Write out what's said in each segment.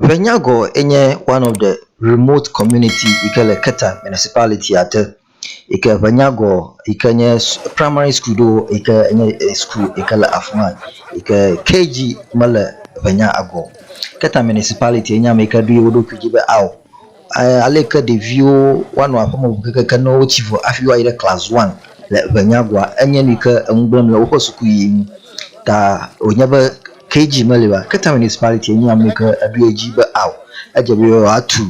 Ƒe nyagɔ ye nye one of the remote community yi ke le Keta municipality ya te yi ke ƒe nyagɔ yi ke nye primary school ɖo yi ke nye school yi ke le afi ma yi ke KG mele ƒe nyagɔ o. Keta municipality enye ame yi ke ɖo ye ɖokui dzi be ao. Aleke ɖeviwo woanɔ aƒeme ŋu kekeke ne wotsi vɔ hafi woayi ɖe class one le eŋɛnyagoa? Enye nu yi ke eŋu gblẽm le woƒe sukuyiyi ŋu. Ta wònye be KG meli oa? Cape Town Municipality enye ame yi ke ɖo edzi be ao, edze be yewoatu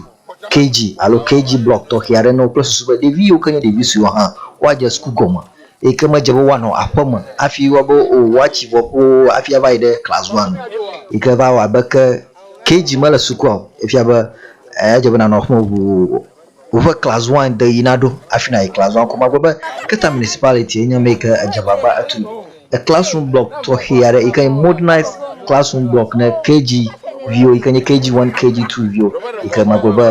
KG alo KG block tɔxɛ aɖe na wo kple susu be ɖevi yiwo ke nye ɖevi suewo hã woadze suku gɔme eyi ke medze be woanɔ aƒeme hafi woabe o woatsi vɔ ƒoo hafi ava yi ɖe class one o. Yi ke va wɔ abe ke. KG mele sukua o efia be eya dze be nanɔ aƒeme ʋuu o woƒe class one de yina ɖo afi nayi class one ko magblɔ be keta municipality enye ame yike edze agbagba etu e class room block tɔxɛ aɖe yike nye modernized class room block ne KG viwo yike nye KG one KG two viwo yike magblɔ be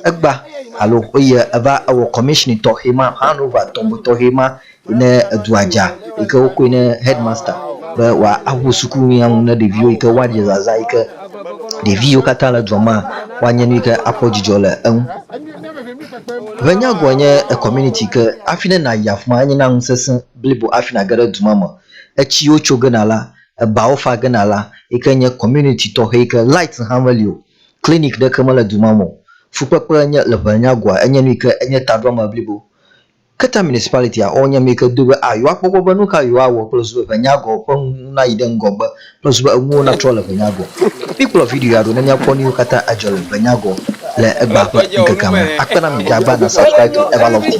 egba alo eye eva ewɔ commissioning tɔxɛ ma hand over tɔxɛ ma Ne edua dza yike wokɔe ne headmaster be wa awu suku nu ya ŋu ne ɖeviwo yike wa ɖe zaza yike ɖevi yiwo katã le dua mea wa nye nu yike akpɔ dzidzɔ le eŋu. Ʋe nya gɔe nye community yike afi ne na yi afima enye na nu sese blibo afi na ge ɖe duma me. Etsi yiwo tso gena la, ebawo fa gena la yike nye community tɔxe yike light hã me li o, clinic ɖe ke me le duma me o. Fukpekpe nye le ʋe nya gɔa enye nu yike enye taɖoame blibo Keta Municipality a, wonye ame yi ke do be a yewoakpɔgbɔ be nu ka yewoawɔ kple zu be ʋenyagɔ ƒe nu nayi ɖe ŋgɔgbe kple zu be enuwo natrɔ le ʋenyagɔ. Míkplɔ video ya ɖo ne míakpɔ nuyiwo katã adzɔ le ʋenyagɔ le egbea ƒe ŋkekea me. Akpe na mi be agbaa na subscribe to Everlove TV.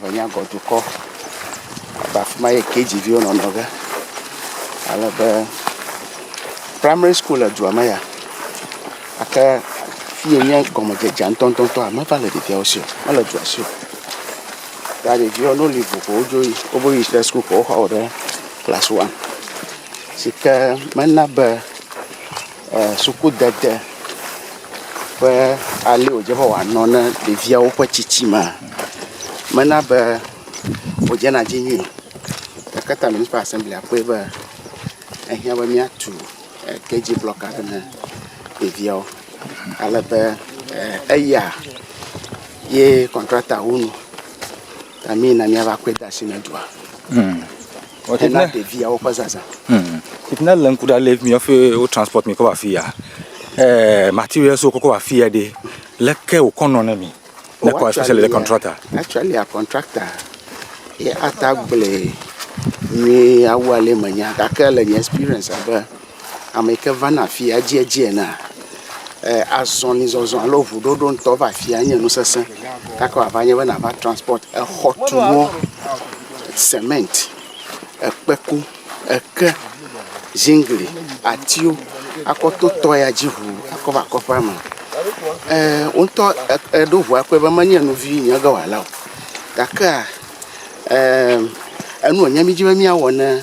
ŋɛnyagɔdukɔ abe afima ye KG viwo nɔna ge alebe primary school le dua me ya gake fiye nye gɔmedzedzea ŋutɔŋutɔa meva le ɖeviawo si o mele dua si o ya ɖeviwo ne woli ʋu ko wodzo yi wobo yi ɖe school ko woxɔ wo ɖe class one sike mena be Sukudede ƒe ale wòdze be wòanɔ ne ɖeviawo ƒe tsitsimea, mena be wòdzena dzi nyuie o. Gake Taminiko Asɛmblia kpɔe be ehiã be míatu kedziblɔki aɖe na ɖeviawo. Alebe eya ye kɔntratawonu. Ta mee na míava kɔe de asi na dua. Hmm. Hena ɖeviawo ƒe zazã. Hmm. Titna le ŋku ɖa le mi hafi wo transport mi kɔ va fi ya. Eh, materials wo kɔ va fi ya ɖe. Leke wokɔ nɔ ne mi? Ne kɔ especially le contractor. Actually, a contractor ye ata gblẽ nyuie awu ale menya gake le nye experience abe ame yi ke vana afia edziedzi enea, azɔlizɔzɔ alo ŋuɖoɖo ŋutɔ va afia nye nu sesẽ gake wòava nye be nàva transpɔti exɔtunuwo, semɛnti, ekpeku, eke, ziŋgli, atiwo akɔ to tɔ ya dzi ŋu akɔ va kɔƒea me. Ee, wo ŋutɔ èɖo ŋu akpɔe be menye nu vi ye ge wòala o gakea, ee enu wònye mí dzi be míawɔ ne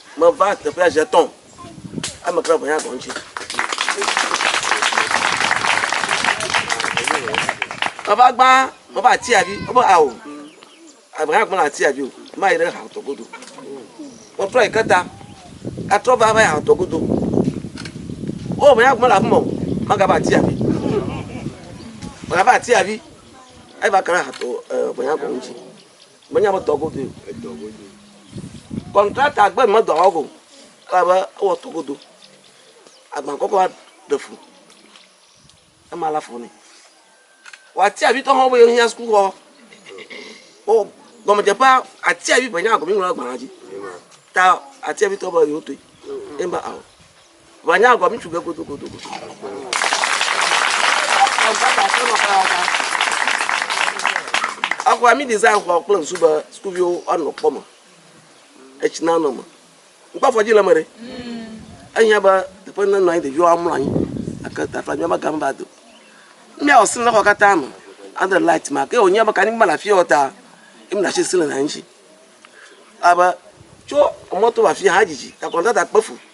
Meva teƒea zi etɔ̃. Ame kae ʋunya gɔme tsi? Meva gbã, meva atia vi. Wobe ao. Ame hã gblẽ atia vi o. Mayi ɖe hatɔ godo. Wotrɔ yi ke ta. Etrɔ va va yi hatɔ godo. Wo ʋunya gɔme le afi ma o. Magava atia vi. Magava atia vi. Eva kana hatɔ ʋunya gɔme tsi. Menya be dɔ godoe. Edɔ godoe. Kɔntrakta gbe medɔ awɔ ko elabe ewɔ to godo. Agba kɔkɔ ɖe fu. Ema la fɔ nɛ. W'atia vi tɔ hã be yehiã sukuxɔ. Wo gɔmedzeƒea atia vi ʋe nya gɔme ŋlɔ agbalẽ dzi. Ta atia vi tɔ be yewo toe. Ema awɔ. Wòanya agɔ ŋutsu be godogodo. Exɔa mi design xɔ kple ŋsu be sukuviwo woanɔ kpɔ me. Etsi na nɔ me. Ŋkpɔ afɔ dzi le me ɖe. Ehiã be teƒe ne nɔ anyi ɖeviwo amlɔ anyi. Ake tafa nyɔ be game ba do. Mmea wɔ sini xɔ katã me. Ade light ma ke wònyia be kani ma le afi yɔ ta. Emi na shi sini na ŋutsi. Abe tso emɔto va afi hã edzidzi. Takɔnɔ tata kpe fu.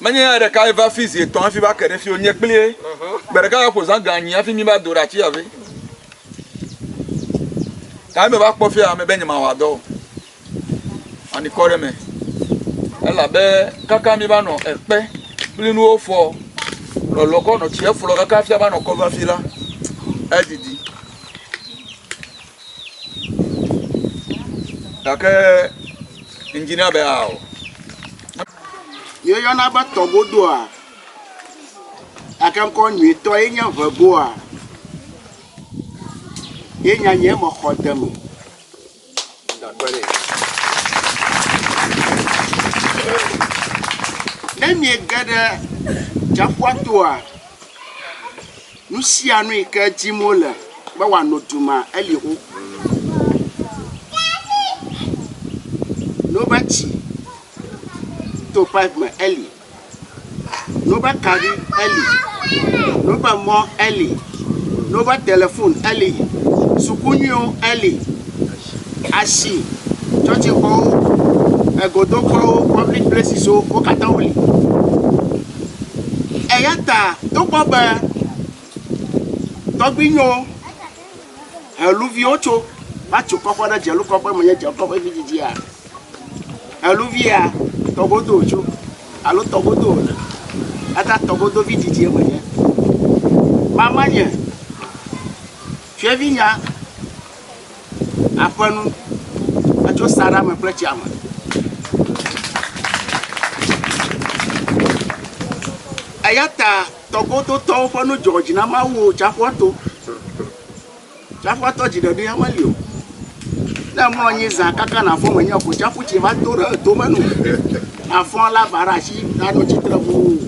Menye ya ɖekae va fi zi etɔ̃ hafi va ke ɖe fi o, nye kplie. Gbe ɖeka ya ƒo zã ga anyi hafi míva do ɖe ati ya ve. Gake meva kpɔ fia me be nyemawɔ dɔ o. Ani kɔ ɖe eme. Elabe kaka míva nɔ ekpe kple nuwo fɔ lɔlɔ kɔ nɔ tsia flɔ kaka fia va nɔ kɔ va fi la, edidi. Gake ŋdi na be ao. Yeyɔna be tɔgodoa, gake ŋkɔ nyuitɔ ye nye ŋɛgoa. Ye nya nye me xɔ de eme. Ne miege ɖe tsiaƒua toa. Nusianu yike dim wole be wòano du ma, eli xoxo. Ne wobe tsi to pipe me, eli. Ne wobe kaɖi, eli. Ne wobe mɔ, eli. Ne wobe telefon, eli. Suku nyuiwo, eli. Asi, tsɔtsixɔwo, egodokɔwo, public places wo, wo katã wo li. Eya ta togbɔ be tɔgbuinyewo heluviwo tso va tso kɔƒe ɖe dzelu kɔƒe me nye dzelu kɔƒe vi dzidzia, heluvi ya tɔgodo wotso alo tɔgodo wole. Eya ta tɔgodo vi dzidzie me nye. Mamanye, fiavinya. aƒenu etso saɖa me kple tsia me. Eya ta tɔgodotɔwo ƒe nu dzɔ dzi na Mawu o tsaƒua to. Tsaƒua tɔ dzi ɖeɖi ya meli o. Ne mlɔ anyi zã kaka nàfɔ menye ko tsaƒu tsi va to ɖe etome nu. Àfɔ lava ɖe asi anɔ tsitre ʋuu.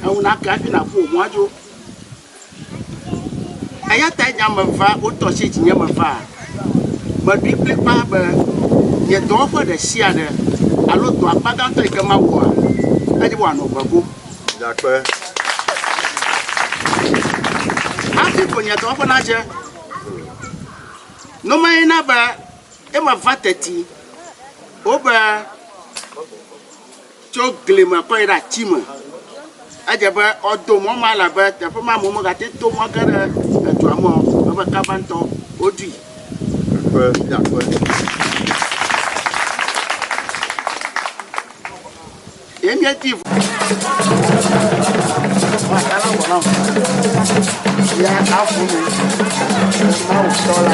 Eŋu nake hafi nàƒu wò mɔa dzo. Eya tae nya meva, wotɔ tsi dzinye meva. Meɖoe kplikpaa be nye dɔwɔƒe ɖe sia ɖe alo dɔ akpa gãtɔ yi ke mawɔa, ele be wòanɔ ʋe go. Hafi ko nye dɔwɔƒe nadze. No maye na be eme va teti wobe. Tso gli me kɔ yi ɖe ati me. Edze be woado mɔ ma elabe teƒe ma amewo megate ŋu to mɔ ge ɖe edua me o. Ebe kaba ŋutɔ woɖui. Ƒe Fiaƒe. Ye míedi ʋu. Ye aƒu me. Mawu tɔ la.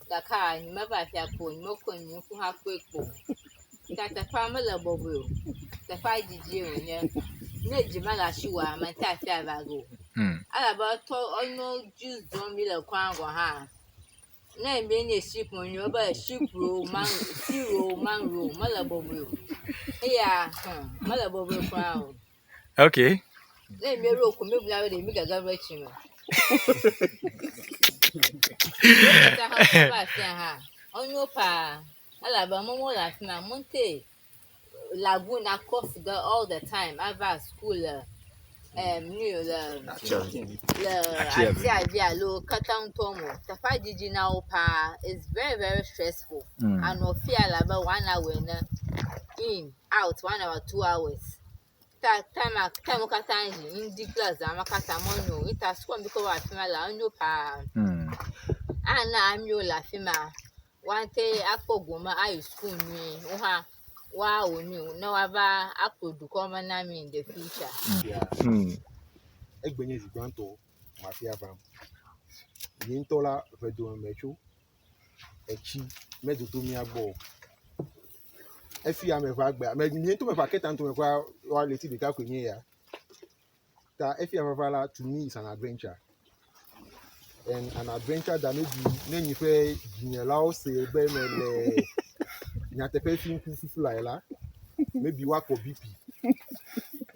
Gake a nyi me va fia kpo, nyi me kɔe nyi ŋku ha kɔe kpo. Ta teƒea me le bɔbɔe o. Teƒea didi o nye. Ne dzi me la shi wa me ta fia va go. Hmm. Ala ba to onyo ju zon mi le kwa go ha. Ne mi ne shi po nyo ba shi pro man shi ro man ro me le bɔbɔe o. Eya, hmm, me le bɔbɔe kwa o. Okay. Ne mi ro ko mi bla be mi gaga ro chi me. Ta ha ba fi ha. Onyo pa. Ala ba mo mo la fi na mo te. Lagoon na cough the all the time. Ava school le um nu le le ati abi alo kata ŋutɔ mo. Teƒa didi na wo pa. It's very very stressful. Mm. Anɔ fi ala ba one hour ne in. out one hour two hours ta time a time wo katã dzi ŋdi kple zã ma katã menyo o eta sukua mi ke wɔ afi ma la enyo paa hmm. ana amiwo le afi ma woate akpɔ gome ayi sukuu nyuie wo hã woawɔ nu ne woava akplɔ dukɔ me na mi in the future. Hmm. egbenye zi gbãtɔ mafia vam yi ŋutɔ la ʋedome metso etsi medodo mía gbɔ o. Efi ame ƒe agbe ame mi ŋutɔ ƒe aketa ŋutɔ ƒe woa ɣleti ɖeka koe nye ya. Ta efi ame ƒe la to me is an adventure and an adventure that maybe ne nyi ƒe dzinyelawo se be me le nyateƒe fi ŋku fufu lae la maybe woakpɔ BP.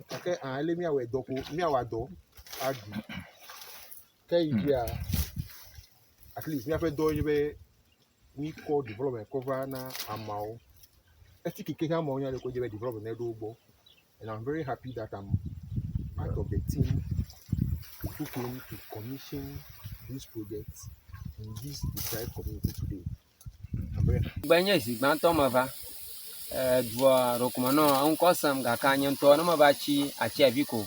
Gake ah ele miawɔ dɔ ko miawɔ dɔ aɖu. Ke yi ke ya, at least míaƒe dɔ ye be míkɔ development kɔ va na ameawo. Esi keke hã ameawo nya ɖe ko dze be development ne ɖo wo gbɔ. And I'm very happy that I'm part of the team who came to commission this project in this deprived community today. Be nye zi gbãtɔ meva dua ɖokuma nɔ ŋkɔ sem gake nye ŋutɔ ne meva tsi atsi avi ko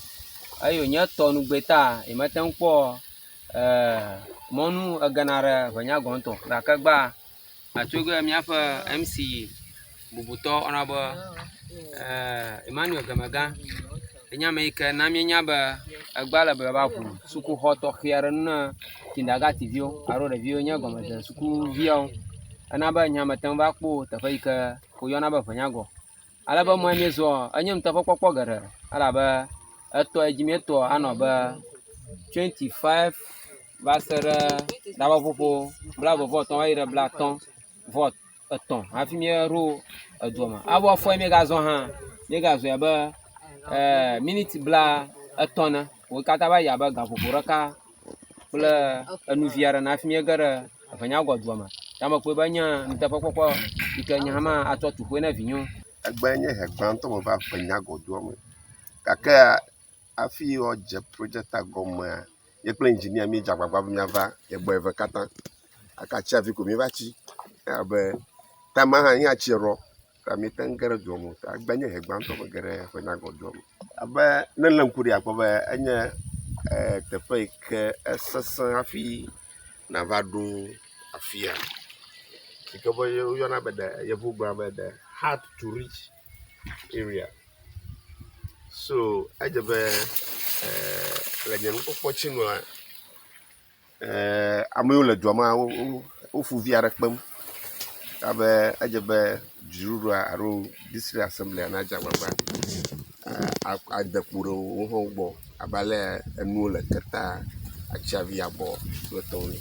eyo nye tɔ nu gbé ta yi me te ŋkpɔ mɔnu egena ɖe ʋe nya gɔntɔ gake gbã atso ge miaƒe MC. bubutɔ woyɔna be Emmanuel Gamega ye nye ame yi ke na míenya be egbea le be yewoava ŋu sukuxɔ tɔxɛ aɖe ŋu na kindagati viwo alo ɖeviwo yi nye gɔmedzea sukuviawo. Ena be nya mete ŋu va kpɔ o teƒe yi ke woyɔna be Ŋenyagɔ. Ale be mɔ yi míezɔa enye ŋutɔ ƒe kpɔkpɔ geɖe elabe etɔ yi dzi míetɔ anɔ abe twenti five va se ɖe tameƒoƒo blaeve vɔ etɔ̃ va yi ɖe blatɔ̃ vɔ. etɔ̃ hafi míaɖo edua me. Abo afɔe míegazɔ hã, míegazɔe abe eh, miniti bla etɔ̃ ne. Wo katã va yi abe gaƒoƒo ɖeka kple enuvi aɖe ne hafi míege ɖe eʋenyagɔdua me. Ta mekpɔe be nye nuteƒekpɔkpɔ yi ke nye hã ma atsɔ tu ƒoe ne vinyewo. Egbe nye he gbãtɔ meva ƒenyagɔdoa me gakea, Hafi woadze projecta gɔmea, ye kple engineer míedze agbagba be míava ye gbɔ eve katã. Gake atsiaƒu ko míeva tsi. Ewɔ abe time ma hã nye atsia ɖɔ ta míete ŋu ge ɖe dua me o. Ta egbe nye ʋe gbãtɔ mege ɖe ƒe nagɔ dua me o. Abe ne èlé ŋku ɖee akpɔ be enye e teƒe yi ke esesẽ hafi nàva ɖo afia. Si ke be woyɔna be ɖe yevugblɔa be ɖe hard to reach. area so edze be e le nye nukpɔkpɔ tsi nua e ame yiwo le dua mea wo woƒu vi aɖe kpem ale be edze be dziɖuɖua alo distrikt assemblia nadze agbagba e a ade kpo ɖe wo hã wogbɔ abe ale enuwo le ketaa atsia vi abɔ kple etɔwo ene.